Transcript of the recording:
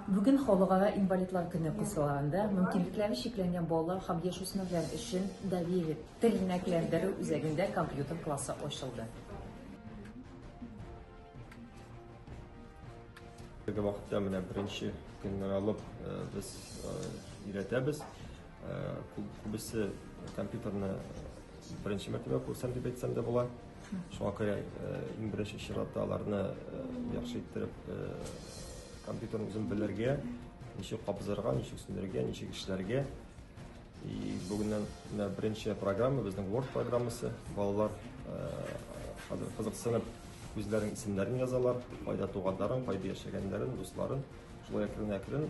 Бүген Халыкара инвалидлар көне кысаларында мөмкинлекләре чикләнгән балалар һәм яшүсмерләр өчен Давири тернәкләндерү үзәгендә компьютер классы ачылды. Теге вакытта менә беренче көннән алып э, без э, өйрәтәбез. Э, күбесе компьютерны беренче мәртәбә күрсәм дип әйтсәм дә була. Шуңа күрә иң беренче чиратта аларны яхшы иттереп компьютерны үзен белергә, ничек кабызырга, ничек сүндерергә, ничек эшләргә. И бүгеннән менә беренче программа безнең Word программасы. Балалар хәзер кызыксынып үзләрен исемнәрен язалар, кайда туганнарын, кайда яшәгәннәрен, дусларын. Шулай әкрен-әкрен